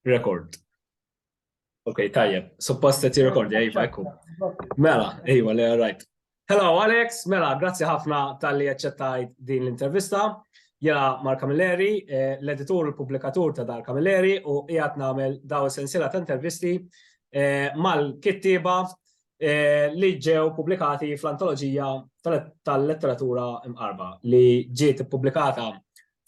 Rekord. Ok, tajjeb. Suppost qed jirrekordja, iva, ekku. Mela, iva, le rajt. Hello Alex, mela, grazzi ħafna tal-li aċċettajt din l-intervista. Jena Mark Camilleri, eh, l-editur u l-publikatur ta' Dar Camilleri u qiegħed nagħmel daw sensila ta' intervisti eh, mal-kittieba eh, li ġew publikati fl-antoloġija tal-letteratura imqarba li ġiet ippubblikata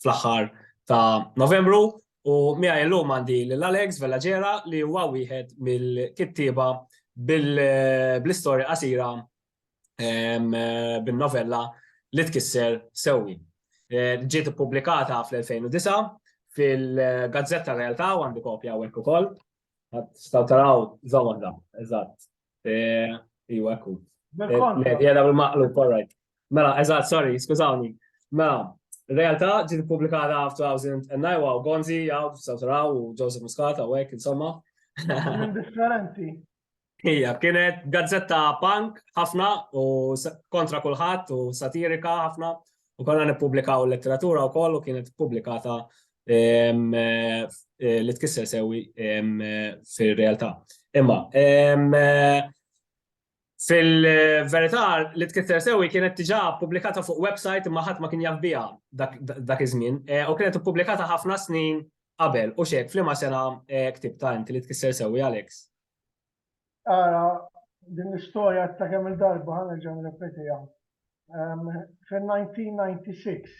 fl-aħħar ta' Novembru U miegħi illum għandi lil Alex Vellagera li huwa wieħed mill-kittieba bl-istorja qasira bin-novella li tkisser sewwi. Eh, ġiet ippubblikata fl-2009 fil-Gazzetta Realtà u għandi kopja hawnhekk ukoll. Staw taraw żewwa eżatt. Iwa, ekku. Jena bil-maqlu, korrek. Mela, eżat, sorry, skużawni. Mela, realtà ġi publikata f-2009 u Gonzi, għaw, Sautaraw u Joseph Muscat, għawek, insomma. Differenti. Ija, kienet gazzetta punk ħafna u kontra kulħadd u satirika ħafna U konna nippubblikaw il-letteratura wkoll u kienet pubblikata li tkisser sewi fir-realtà. Imma fil-verità li tkisser sewi kienet diġà pubblikata fuq website imma ħadd ma kien jaf biha dak iż-żmien u kienet ippubblikata ħafna snin qabel u x'hekk f'liema sena ktibtha inti li tkisser sewi Alex? Ara, din l-istorja ta' kemm il-darba ħa nerġa' nirrepetiha. Fin-1996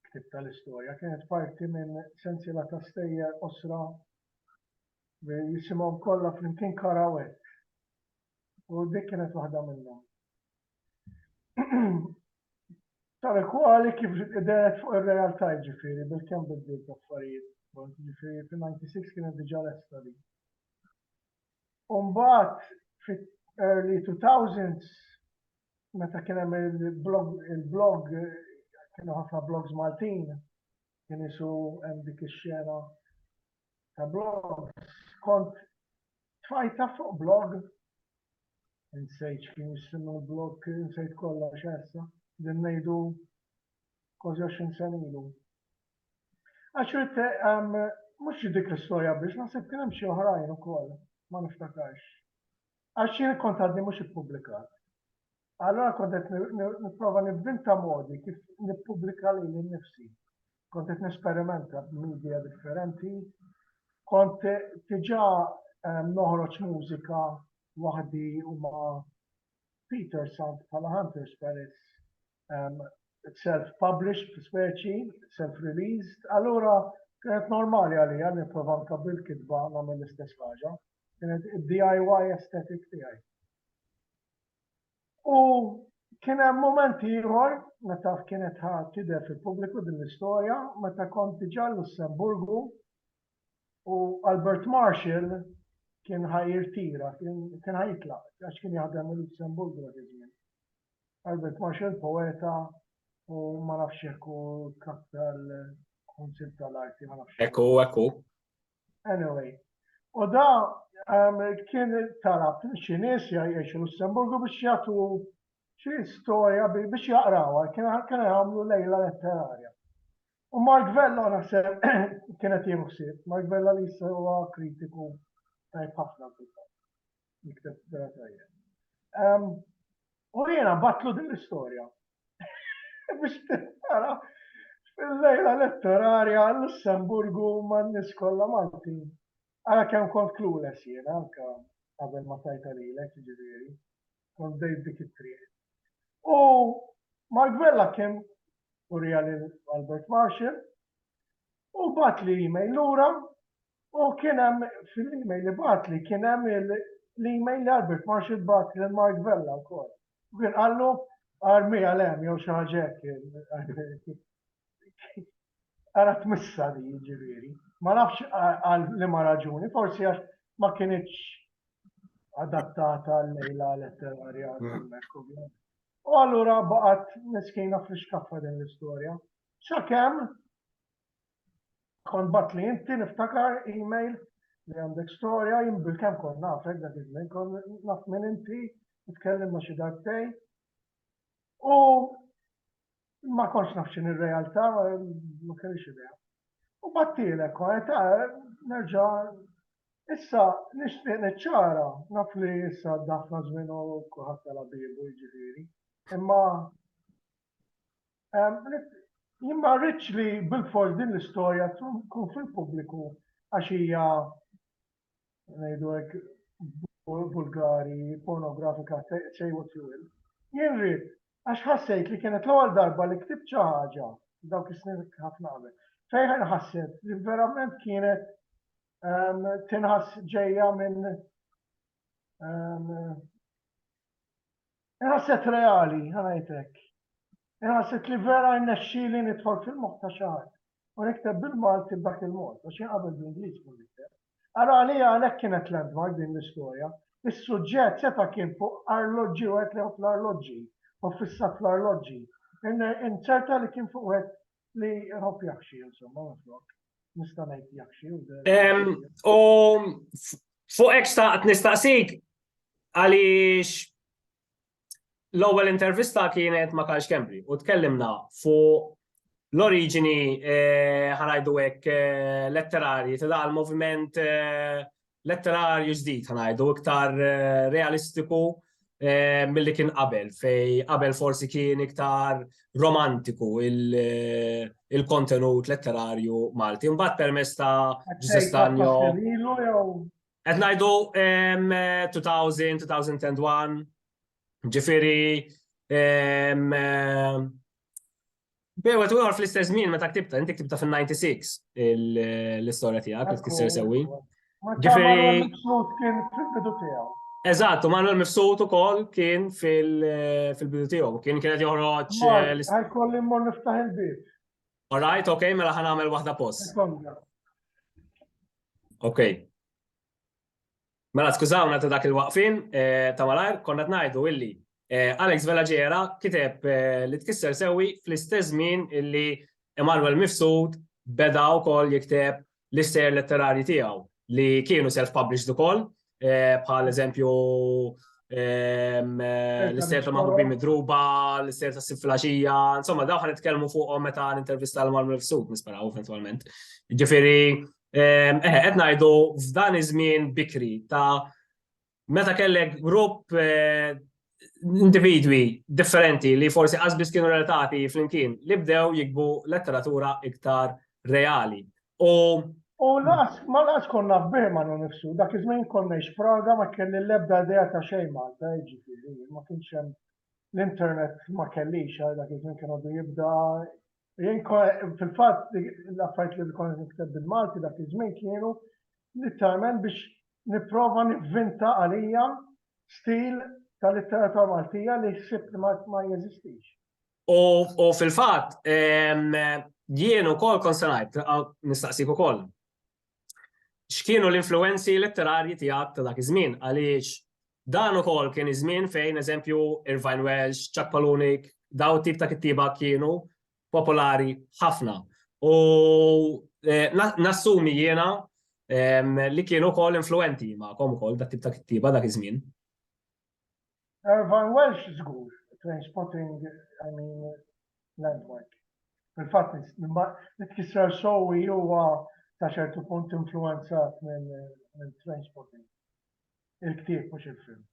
ktibt tal-istorja kienet parti minn sensiela ta' stejjer qosra li jisimhom kollha flimkien Karawet. U dik kienet waħda minnhom. Tal kwali kif id-deret fuq ir-realtà ġifiri, bil-kem bidliet l-affarijiet, ġifiri fil-96 kienet diġa l-esta li. Umbat fit-early 2000s, meta kien hemm il-blog, il-blog kienu ħafna blogs Maltin, kien isu hemm dik ix-xena ta' blogs. Kont tfajta fuq blog Insejt x'kien jisimha l-blog, insejt kollox issa, din ngħidu kważi 20 sena ilu. Għax rid ehm, mhux dik l-istorja biss, naħseb kien hemm xi oħrajn ukoll, ma niftakarx. Għax jien kont għadni mhux ippubblikat. Allora kont qed nipprova nivvinta modi kif nippubblika lili nnifsi. kont qed nesperimenta b'midja differenti, kont diġà ehm, noħroġ mużika waħdi u ma' Peter Sant bħala Hunter Spirits ehm, self-published speċi, self-released, allura kienet normali għalija nipprova nkabbi l-kitba nagħmel l-istess ħaġa. Kienet DIY aesthetic tiegħi. U kien hemm moment ieħor meta kienet ħa tidher fil-pubbliku din l-istorja meta kont diġà l-Lussemburgu u Albert Marshall kien ħa jirtira, kien ħa jitlaq, għax kien jaħdem il-Lussemburgu dak iż-żmien. Albert Marshall poeta u ma nafx jekk hu kap tal-Kunsill tal-Arti ma nafx. Ekku, ekku. Anyway. U da um, kien talab xi nies jgħixu Lussemburgu biex jagħtu xi storja biex jaqrawha, kien kien jagħmlu lejla letterarja. U Mark Vella naħseb kienet jieħu Mark Vella li jissa huwa kritiku tajb ħafna fil-fatt. Jikteb vera tajjeb. Ehm, u jiena batlu din l-istorja. Biex tara fil-lejla elettorarja l-Lussemburgu ma' nis kollha Malti. Għala kemm kont clueless jiena anka qabel ma tajta lilek ġifieri. Kont dejt dik it-triq. U Mark Vella kien urija lil Albert Marshall U batli email lura u kien hemm fil-email li batli kien hemm l-email li Albert Marshall bat lil Mark Vella wkoll. U kien qallu armi għal hemm jew xi ħaġa hekk. Ara tmissa li jiġifieri. Ma nafx għal li ma raġuni, forsi għax ma kienitx adattata l-lejla letterarja. U allura baqgħet miskina fl-iskaffa din l-istorja. Sakemm kont bat li inti niftakar email li għandek storja jien bil-kemm kont nafek dak iż-żmien kont naf minn inti nitkellem ma' xi dartej. U ma kontx naf x'in ir-realtà ma kellix idea. U battilek kont nerġa' Issa, nixtieq niċċara, naf li issa dafna żmien u kulħadd tala bibu jiġifieri. Imma Jien ma rridx li bil-fors din l-istorja tkun fil-pubbliku għax hija ngħidu hekk vulgari, pornografika, say what you will. Jien rrid għax ħassejt li kienet l-ewwel darba li ktibt xi ħaġa dawk is-snin ħafna qabel. Fejn ħasset li verament kienet ehm, tinħass ġejja minn ehm, Inħasset reali, ħa ngħid hekk. Inħasset li vera rnexxieli nidħol fil-moħħ ta' xi ħadd u nikteb bil-Malti b'dak il-mod, għax jien qabel bl-Ingliż kont nikteb. Ara għalija għalhekk kienet landmark din l-istorja. Is-suġġett seta' kien fuq arloġġi, wieħed li jħobb l-arloġġi u ffissat fl-arloġġi. Inċerta li kien fuq wieħed Li jħobb jaħxi, insomma, minflok. Nista' ngħid jaħxi u U fuq hekk xtaqt nistaqsik għaliex l-ewwel intervista kienet ma' Karl Kembri u tkellimna fuq l-oriġini eh, ħanajdu hekk eh, letterarji ta' dal-moviment eh, letterarju ġdid ħanajdu iktar eh, realistiku eh, mill-li kien qabel, fej qabel forsi kien iktar romantiku eh, il-kontenut letterarju Malti. Mbatt permess ta' Ġusestanjo. Qed ngħidu 2000, 2001, ġifiri Bewa tu għarf l-istess żmien meta ktibta, inti ktibta fin-96 l-istorja tiegħek li tkisser sewwi. Ġifieri. kien fil-bidu tiegħu. Eżatt, u Manuel Mifsud ukoll kien fil-bidu tiegħu, kien kienet joħroġ. Għal kolli mmur niftaħ il-bib. All right, ok, mela ħan għamel waħda post. Ok. Mela skużawna ta' dak il-waqfien ta' malajr, konna qed ngħidu illi Alex Vella Ġera kiteb li tkisser sewwi fl-istess żmien illi Emmanuel Mifsud beda wkoll jikteb l-istejjer letterarji tiegħu li kienu self-published ukoll bħal eżempju l-istejjer ta' Maħbubin Midruba, l-istejjer ta' Sib Flaxija, insomma dawn ħa nitkellmu fuqhom meta nintervista l-Emmanuel Mifsud nisperaw eventwalment. Ġifieri Eħe, qed ngħidu f'dan iż-żmien bikri ta' meta kellek grupp eh, individwi differenti li forsi qasbis kienu relatati flimkien li bdew jikbu letteratura iktar reali. U U laqas, ma laqas konna f'bih ma nifsu, dak iż-żmien konna Praga ma kelli l-ebda idea ta' xejn Malta, jiġifieri, ma kienx hemm l-internet ma kellix għal dak iż-żmien kien għadu jibda Fil-fatt, l-affarijiet li kont qed nikteb bil-Malti dak iż-żmien kienu litteralment biex nipprova nivvinta għalija stil ta' litteratura Maltija li ħsibt li ma jeżistix. U fil-fatt, jien ukoll kont se ngħid, nistaqsik ukoll, X'kienu l-influwenzi letterarji tiegħek ta' dak iż-żmien għaliex dan ukoll kien iż-żmien fejn eżempju Irvine Welsh, Chuck Palahniuk, dawn it-tip ta' kittieba kienu popolari ħafna. U nassumi jiena li kienu wkoll influwenti magħkom ukoll dat-tip ta' kittieba dak iż-żmien. Irvine Welsh żgur, Trainspotting, I mean, Landmark. Fil-fatt nitkisser sowi huwa ta' ċertu punt influenzat minn Trainspotting. Il-ktieb mhux il-film.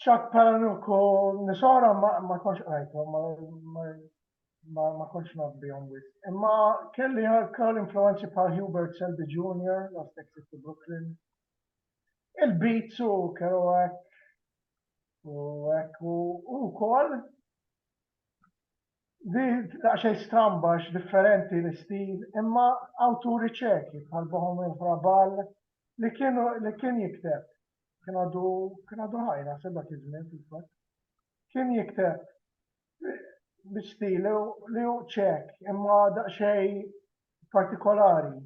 Chuck Palahniuk u Nisora ma konx qrajthom, ma konx naf bihom wis. Imma kelli wkoll influenzi bħal Hubert Selby Jr., Last Exit to Brooklyn, il-beats u kellu hekk u hekk u wkoll di daqsxejn stramba differenti l-istil imma awturi ċeki bħal Bohumil Hrabal li kienu li kien jikteb kien għadu kien għadu ħajna sebgħet iż-żmien fil-fatt kien jikteb biex li li hu ċek, imma daqsxejn partikolari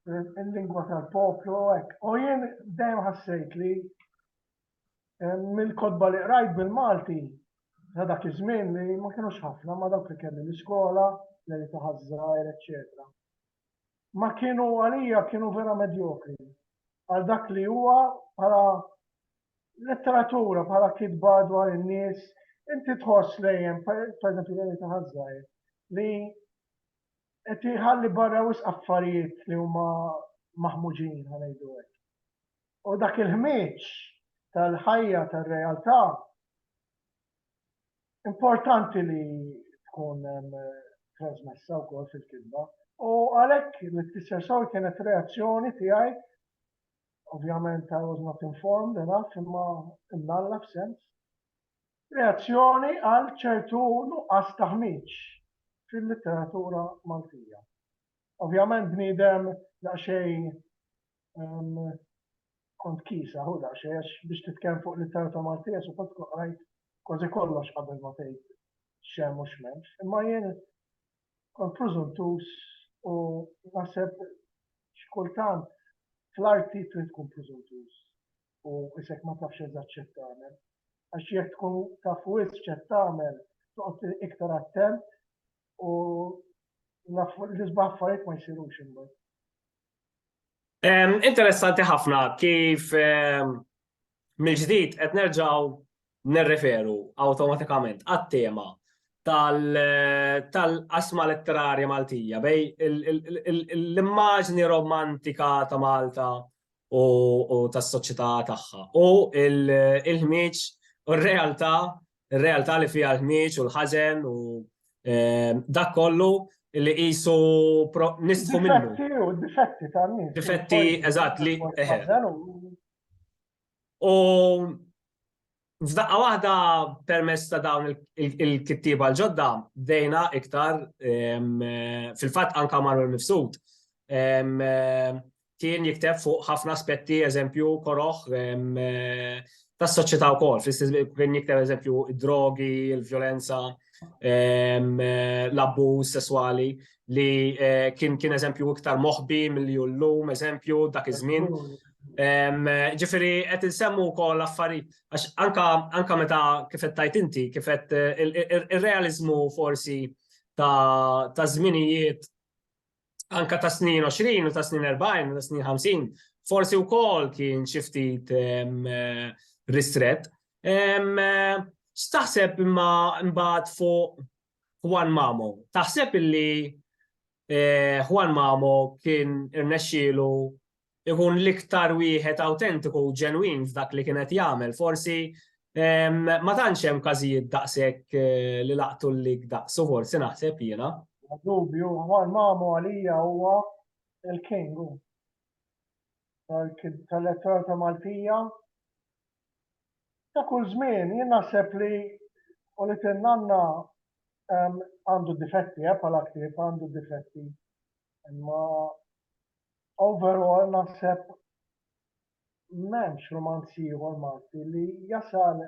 il-lingwa tal-poplu hekk. U jien dejjem ħassejt li eh, mill-kodba li qrajt bil-Malti ta' dak iż-żmien li ma kienux ħafna ma dawk li kelli l-iskola, li taħazzar, eċċetera. ma kienu għalija kienu vera medjokri għal dak li huwa bħala letteratura, bħala kitba dwar in-nies, inti tħoss lejjem, per eżempju, li ta' ħazzajr, li qed iħalli barra wis affarijiet li huma maħmuġin ħanejdu hekk. U dak il-ħmieġ tal-ħajja tar-realtà Importanti li tkun trasmessa wkoll fil-kitba. U għalhekk li tfisser sew kienet reazzjoni tiegħi ovvjament I was not informed enough imma imnalla f'sens. Reazzjoni għal ċertu nuqqas taħmiċ fil-litteratura Maltija. Ovvjament bniedem daqsxejn kont kisa hu daqsxejn biex titkellem fuq litterata Maltija su kont qrajt kważi kollox qabel ma tgħid xem u x'memx. Imma jien kont preżuntuż u naħseb x'kultant fl-arti trid tkun preżuntuż u isek ma tafx eżatt x'qed tagħmel. Għax jekk tkun taf wisq x'qed tagħmel toqgħod iktar attent u l-isbaħ affarijiet ma jsirux imbagħad. Interessanti ħafna kif mill-ġdid qed nerġgħu nirreferu awtomatikament għat-tema tal-qasma letterarja Maltija bej l-immaġni romantika ta' Malta u tas-soċjetà tagħha u l-ħmieġ u r-realtà Ir-realtà li fiha l-ħmieġ u l-ħażen u dak kollu li qisu nisfu minnu. Difetti u difetti ta' nies. Difetti, eżatt, li. U F'daqqa waħda permess ta' dawn il-kittiba l-ġodda bdejna iktar fil-fatt anka marru l-mifsud. kien jikteb fuq ħafna aspetti, eżempju, koroħ tas soċjetà wkoll, kien jikteb eżempju drogi, il-vjolenza, l-abbuż sesswali li eh, kien kien eżempju iktar moħbi mill-li llum, eżempju, dak iż-żmien. Ġifiri, qed insemmu wkoll affarijiet, għax anka meta kif qed tajt inti, kif qed eh, ir-realizmu forsi ta' żminijiet anka ta' snin 20 u ta' snin 40 u ta' snin 50, forsi u kol kien xiftit ristret. X'taħseb imma mbagħad fuq Juan Mamo? Taħseb illi Juan Mamo kien irnexxielu ikun l-iktar wieħed awtentiku u ġenwin f'dak li kien qed jagħmel. Forsi ma tantx hemm każijiet daqshekk eh, li laqtu l-lik daqsu forsi naħseb jiena. Dubju, għal mamu għalija huwa il-king tal-elettorat ta' Maltija. Ta' kull żmien jien naħseb li u li tinnanna għandu difetti, eh, bħala ktieb għandu difetti. Imma Overall naħseb m'hemmx rumanz ieħor Malti li jasal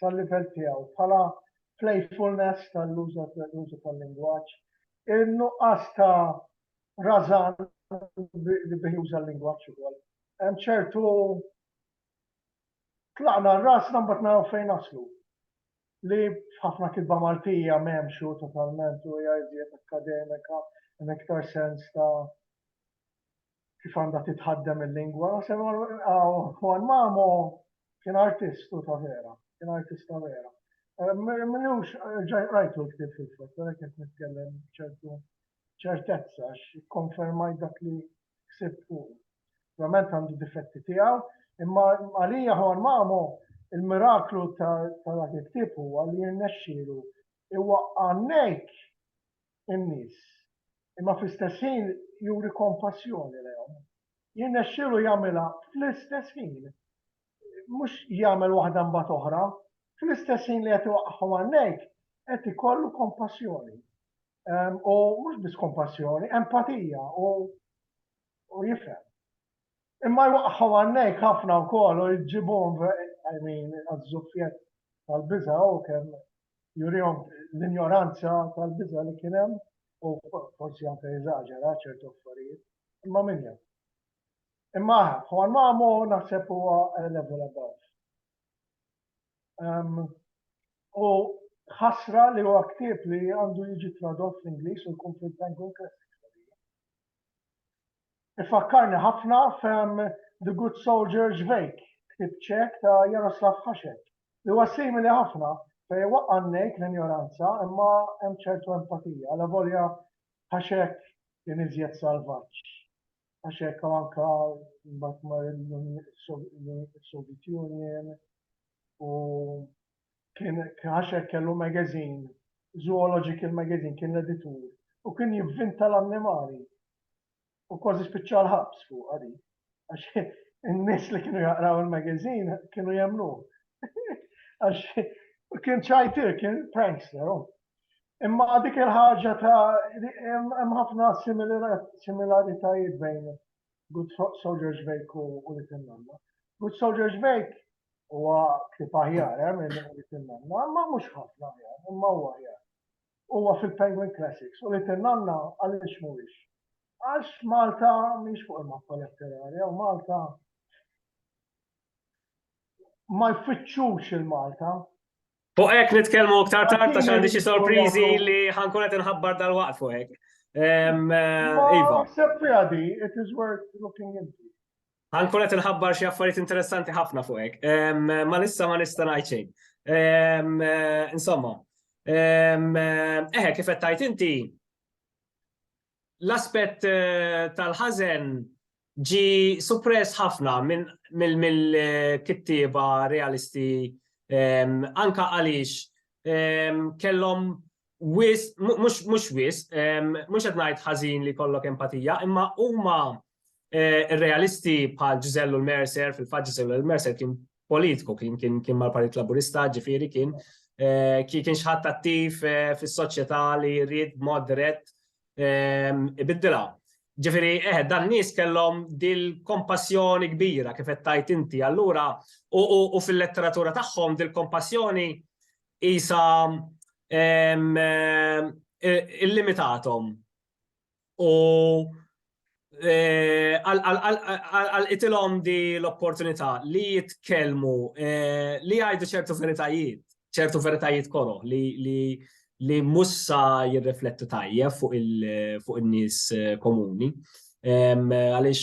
sal-livell tiegħu bħala playfulness tal-użu tal-lingwaġġ, in-nuqqas ta' rażan li bih juża l-lingwaġġ ukoll. Hemm ċertu tlaqna rasna mbagħad naraw fejn naslu. li f'ħafna kitba Maltija m'hemmx hu totalment u hija iżjed akkademika hemm iktar sens ta' kif għandha titħaddem il-lingwa. Naħseb Juan Mamo kien artist hu ta' vera, kien artist ta' vera. M'iniex ġaj qrajtu l-ktieb fil-fatt, għalhekk qed nitkellem b'ċertu ċertezza għax ikkonfermajt dak li ħsieb fuqu. Ovvjament għandu difetti tiegħu, imma għalija Juan Mamo il-miraklu ta' dak il-ktieb huwa li jirnexxielu huwa għannejk in-nies imma fl-istess ħin juri kompassjoni lejhom. Jirnexxielu jagħmilha fl-istess ħin. Mhux jagħmel waħda mbagħad oħra, fl-istess ħin li qed iwaqqagħhom għannejk qed ikollu kompassjoni. u mhux biss kompassjoni, empatija u u jifhem. Imma jwaqqħu għannej ħafna wkoll u jġibhom I mean għaż-żuffjett tal-biża' u kemm jurihom l-injoranza tal-biża' li kien hemm u forsi anke jeżaġera ċertu affarijiet. Imma min jaf. Imma Juan Mamo naħseb huwa level above. U ħasra li huwa ktieb li għandu jiġi tradott fl-Ingliż u jkun fil-Penguin Classics. Ifakkarni ħafna fem The Good Soldier Ġvejk, ktieb ċek ta' Jaroslav Hašek, li huwa simili ħafna fej waqqannejk l-injoranza imma hemm ċertu empatija, la volja Hašek kien iżjed salvaġġ għax hekk anke mbagħad mar il-Soviet Union u kien għax hekk kellu magazine, Zoological Magazine kien l-editur u kien jivvinta l-annimali u kważi spiċċa l-ħabs fuq għadi. Għax in-nies li kienu jaqraw il-magazine kienu jemnu. Għax kien ċajtir, kien prankster, oh. Imma dik il-ħaġa ta' hemm ħafna similaritajiet bejn Good Soldier's Wake u li tinnanna. Good Soldier's Wake huwa kif aħjar hemm eh, li tinnanna, imma mhux ħafna aħjar, imma huwa aħjar. Huwa fil-Penguin Classics u li tinnanna għaliex mhuwiex. Għax Malta mhix fuq il-mappa letterarja u Malta ma jfittxux il-Malta Fuq hekk nitkellmu iktar tard għax għandi xi sorpriżi li ħankun qed inħabbar dal-waqt fuq hekk. Ehm, eh, iva. it is worth looking into. Ħankun qed inħabbar xi affarijiet interessanti ħafna fuq hekk. Ehm, eh, ma nista' ma nista' ngħid xejn. Ehm, eh, insomma, eħe kif qed tajt inti l-aspett tal-ħażen ġie suppress ħafna mill-kittieba realisti anke għaliex kellhom wisq, mhux wisq, mhux qed ngħid ħażin li jkollok empatija, imma huma Eh, realisti bħal Ġizellu l-Mercer, fil-fat Ġizellu l-Mercer kien politiku, kien kien kien mal-Partit Laburista, ġifiri kien eh, kien xħat attiv eh, fis-soċjetà li jrid mod dirett ehm, ibiddilha. Ġifiri, eh, dan nies kellhom dil-kompassjoni kbira kif qed tajt inti allura u fil-letteratura tagħhom dil-kompassjoni isa ehm, illimitatom u eh, għal itilom di l-opportunità li jitkellmu eh, li jgħidu ċertu veritajiet, ċertu veritajiet koro li li li mussa jirriflettu tajjeb fuq il-nies eh, komuni. Għalix.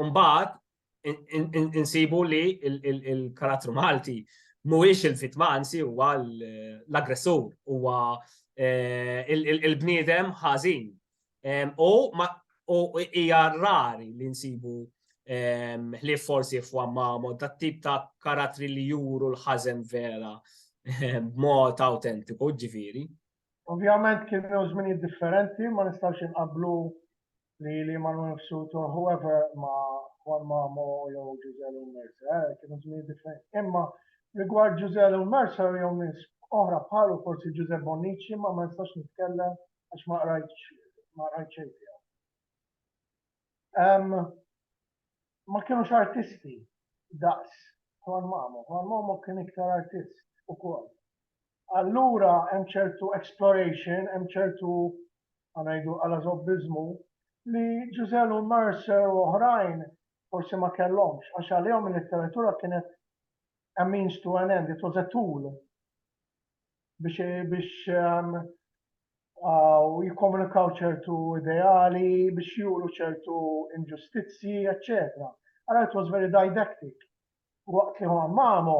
Mbagħad insibu li il-karattru Malti mhuwiex il-vittma, anzi huwa l-aggressur, huwa eh, il-bniedem ħażin. U hija rari li nsibu ħlief forsi f'wammamo ta' tip ta' karattri li juru l-ħażen vera b'mod autentiku, ġifieri. Ovvjament kienu żminijiet differenti, ma nistax inqablu li li Manu Nifsuto, whoever ma Juan Mamo jew Jose Leon Mercer, eh, kienu żmien differenti. Imma rigward Jose Leon Mercer jew nies oħra bħalu forsi Giuseppe Bonnici ma ma nistax nitkellem għax ma qrajtx ma qrajtx xejn tiegħu. Um, ma kienux artisti daqs Juan Mamo. Juan Mamo kien iktar artist ukoll. allura hemm ċertu exploration, hemm ċertu ngħidu għalażobbiżmu li Ġużell u Mercer u oħrajn forsi ma kellhomx għax għalihom il-letteratura kienet a means to an end, it was a tool biex biex um, u jikkomunikaw ċertu ideali biex juru ċertu inġustizzji, etc. Għara it was very didactic. Waqt li Juan Mamo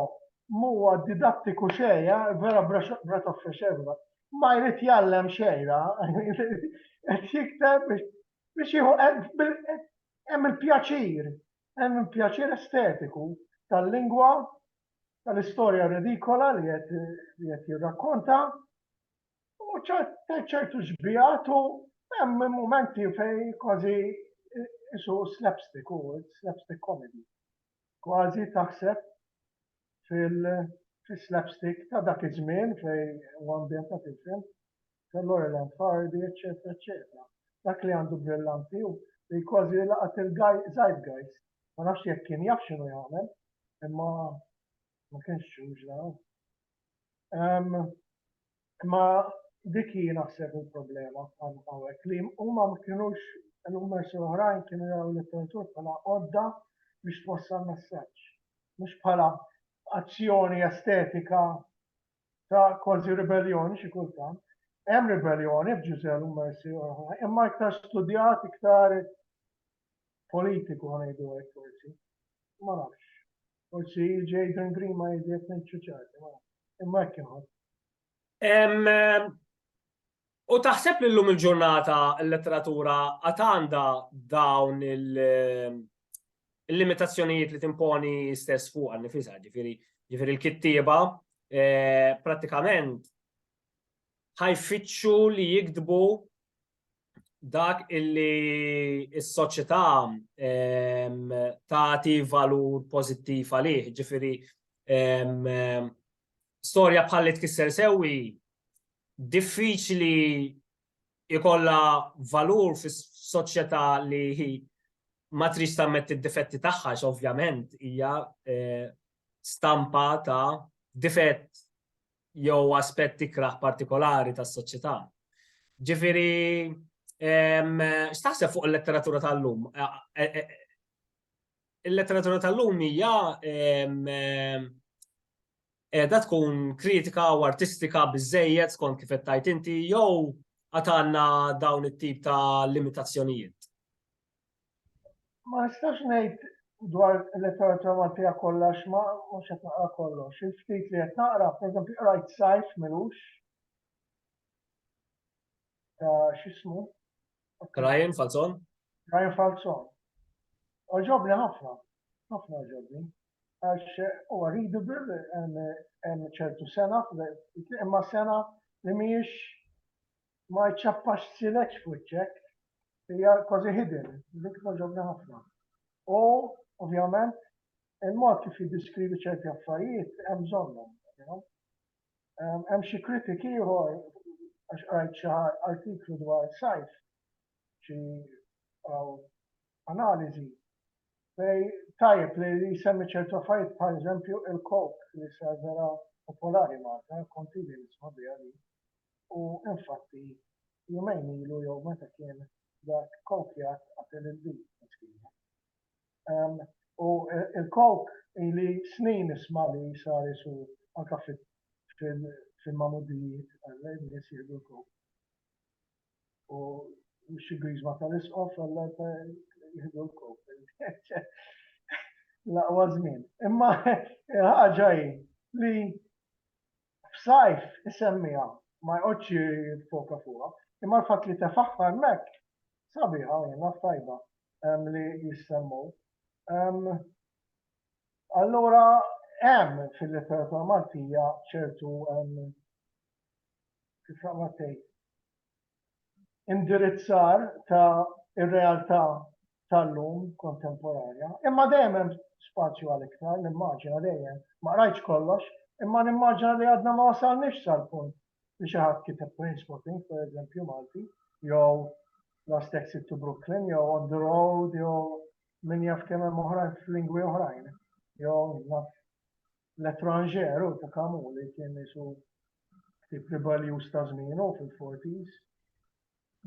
m'huwa didattiku xejn, vera breath of fresh air, ma jrid jgħallem xejn, qed jikteb biex jieħu hemm il-pjaċir, hemm il-pjaċir estetiku tal-lingwa, tal-istorja redikola li qed jirrakkonta, u ċertu xbigħat u hemm mumenti fejn kważi isu slapstick, hu slapstick comedy. Kważi taħseb fil-slapstick ta' dak iż-żmien fejn huwa ambjentat il-film, ta' Laurel and Hardy, eċċetera, eċċetera. Dak li għandu brillanti hu li kważi laqat il-zeitgeist. Ma nafx jekk kien jaf x'inhu jagħmel, imma ma kienx ġuġla. Imma dik hi naħseb il-problema hawnhekk li huma ma kinux l-ummers l-oħrajn kienu jaraw l-letteratur bħala għodda biex twassal messaġġ, mhux bħala azzjoni estetika ta' kważi ribelljoni xi kultant. Hemm ribelljoni f'Ġużè l-ummers l-oħrajn, imma iktar studjat, iktar politiku ngħidu hekk forsi. Ma nafx. Forsi Jaden Green ma jidjek nċuċati, ma. Imma hekk inħoss. U taħseb li l-lum il-ġurnata l-letteratura għat għandha dawn il-limitazzjonijiet li timponi stess fuq għal nifisa, ġifiri, ġifiri l-kittieba, eh, pratikament ħajfittxu li jikdbu dak illi s-soċjetà ehm, tagħti valur pożittiv għalih, ġifieri ehm, ehm, storja bħal li tkisser sewwi diffiċli ikolla valur fis soċjetà li ma trix tammet id-difetti tagħha ovvjament hija eh, stampa ta' difett jew aspett ikrah partikolari tas-soċjetà. Ġifieri, x'taħseb fuq il-letteratura tal-lum? Il-letteratura tal-lum hija qiegħda tkun kritika u artistika biżejjed skont kif qed tgħid inti jew għad għandna dawn it-tip ta' limitazzjonijiet? Ma nistax ngħid dwar il-letteratura Maltija kollha għax ma mhux qed naqra kollox. Il-ftit li qed naqra, pereżempju qrajt Sajf Milux ta' x'ismu? Ryan Falzon? Ryan Falzon. Oġobni ħafna, ħafna oġobni. Għax huwa readable hemm ċertu sena, imma sena li mhijiex ma jċappax sileġ f'wiċċek, hija kważi hidden, dik togħġobni ħafna. U ovvjament il-mod kif jiddiskrivi ċerti affarijiet hemm bżonnhom. Hemm xi kritik ieħor għax qrajt xi artiklu dwar sajf xi analiżi fej tajjeb li jsemmi ċertu affarijiet bħal eżempju il-kok li sar vera popolari Malta, kontili nisma' biha li u infatti jumejn ilu jew meta kien dak kokjat qatel il-bid miskina. Ehm, u il-kok li snin nisma' li sar isu anka fil-mamuddijiet għal-nies jieħdu l-kok. U xi griżma tal-isqof għalla jieħdu l-kop. Laqwa żmien. Imma ħaġa hi li f'sajf isemmija ma jqgħodx foka fuqha, imma l-fatt li tefaħħar mek sabiħa jiena tajba li jissemmu. Allura hemm fil-letteratura Maltija ċertu kif għamat tgħid, indirizzar ta' ir-realtà tal-lum kontemporanja, imma dejjem hemm spazju għal iktar, nimmaġina dejjem, ma rajtx kollox, imma nimmaġina li għadna ma wasalniex sal-punt li xi ħadd kiteb Trainspotting, per eżempju, Malti, jew Last Exit to Brooklyn, jew On the Road, jew min jaf kemm hemm oħrajn f'lingwi oħrajn, jew naf L'Etranger u ta' Camus li kien qisu ktieb ribaljuż ta' żmienu fil-forties.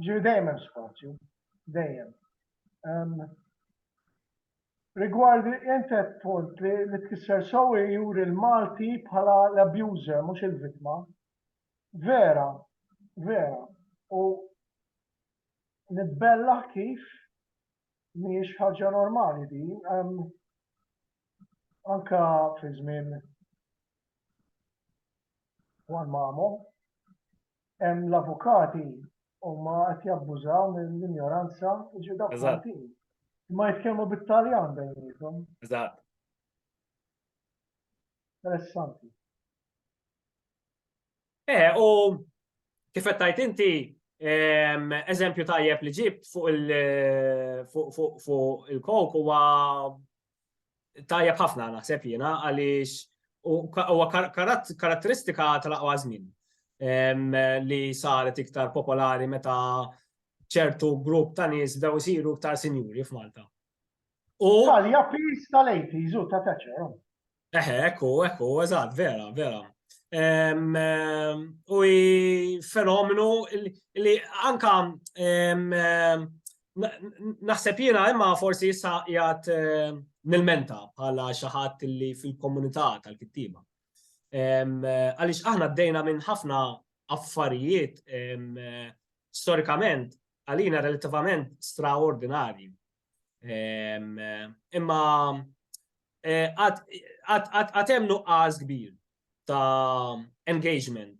Ġifieri dejjem hemm spazju, dejjem. Rigward int qed punt li li tkisser sew juri l-Malti bħala l-abuser mhux il-vittma. Vera, vera. U nitbellaħ kif mhijiex ħaġa normali din. Anka fi żmien Juan Mamo, hemm l-avukati huma qed jabbużaw mill-injoranza ġi dak Maltin. Ma jitkellmu bit-Taljan bejnietom. Eżatt. Interessanti. Eh, u kif qed tajt inti ehm, eżempju tajjeb li ġibt fuq il fuq il-kok huwa tajjeb ħafna naħseb jiena għaliex huwa karatteristika tal-aqwa żmien ehm, li saret iktar popolari meta ċertu grupp ta' nies bdew isiru iktar sinjuri f'Malta. U. Italja pis tal-80s u ta' taċer. Eħe, ekku, ekku, eżatt, vera, vera. U fenomenu li anka naħseb jiena imma forsi issa jgħat nil-menta bħala xaħat li fil-komunità tal-kittiba. Għalix aħna d-dejna minn ħafna affarijiet storikament għalina relativament straordinari. Imma għatem nuqqas kbir ta' engagement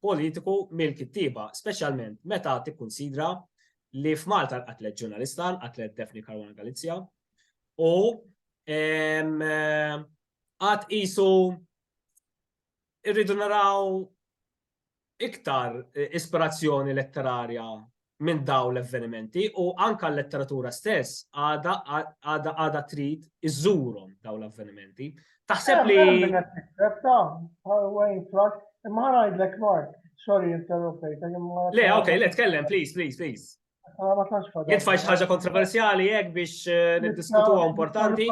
politiku mill-kittiba, specialment meta tikkunsidra li f'Malta l-qatlet ġurnalista, l-qatlet Daphne Caruana Galizja, u għat isu irridu naraw iktar ispirazzjoni letterarja minn dawn l-avvenimenti u anke l-letteratura stess għadha trid iżżurhom dawn l-avvenimenti. Taħseb li. Imma ngħidlek Mark, sorry interrompejta. Le, ok, le, tkellem, please, please, please. Jitfa xi ħaġa kontroversjali hekk biex eh, niddiskutuha importanti.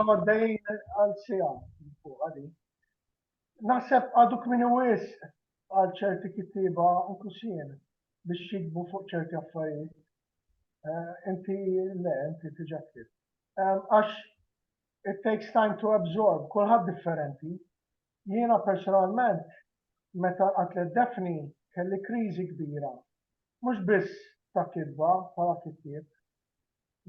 Naħseb għadu kmieni wisq għal ċerti kittieba inkluż jien biex jikbu fuq ċerti affarijiet. Eh, inti le, inti tiġa ktib. Għax it takes time to absorb, kulħadd differenti. Jiena personalment meta qatlet Defni kelli kriżi kbira. Mhux biss ta' kitba bħala kittieb,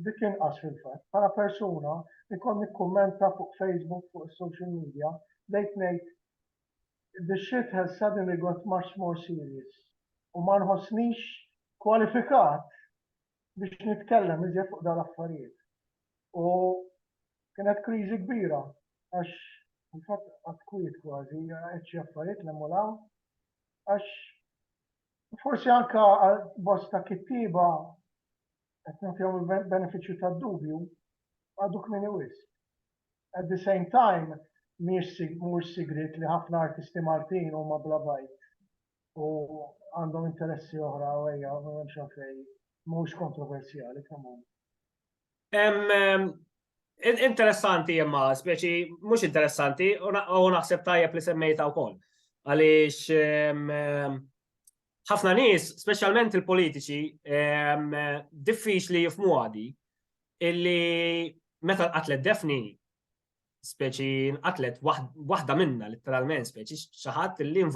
Dik inqas fil-fatt. Bħala persuna jkoll nikkummenta fuq Facebook fuq is-social media bdejt ngħid The shit has suddenly got much more serious u ma nħossnix kwalifikat biex nitkellem iżjed fuq dan l-affarijiet. U kienet kriżi kbira għax fil-fatt qatt kwiet kważi qed xi affarijiet l-hemm u l-hawn għax Forsi anke għal bosta kittieba qed nagħtihom il-benefiċċju tad-dubju, għadu kmieni wisq. At the same time, mhuwiex sigriet li ħafna artisti Maltin huma bla bajt u għandhom interessi oħra u ejja, m'hemmx għalfejn, mhuwiex kontroversjali kemm hu. Interessanti imma, speċi, mux interessanti, u naħseb tajjeb li semmejta u koll. Għalix, ħafna nis, specialment il-politiċi, diffiċ li jifmu għadi, illi meta l-atlet defni, speċi, l-atlet wahda minna, literalment, speċi, xaħat li involuti.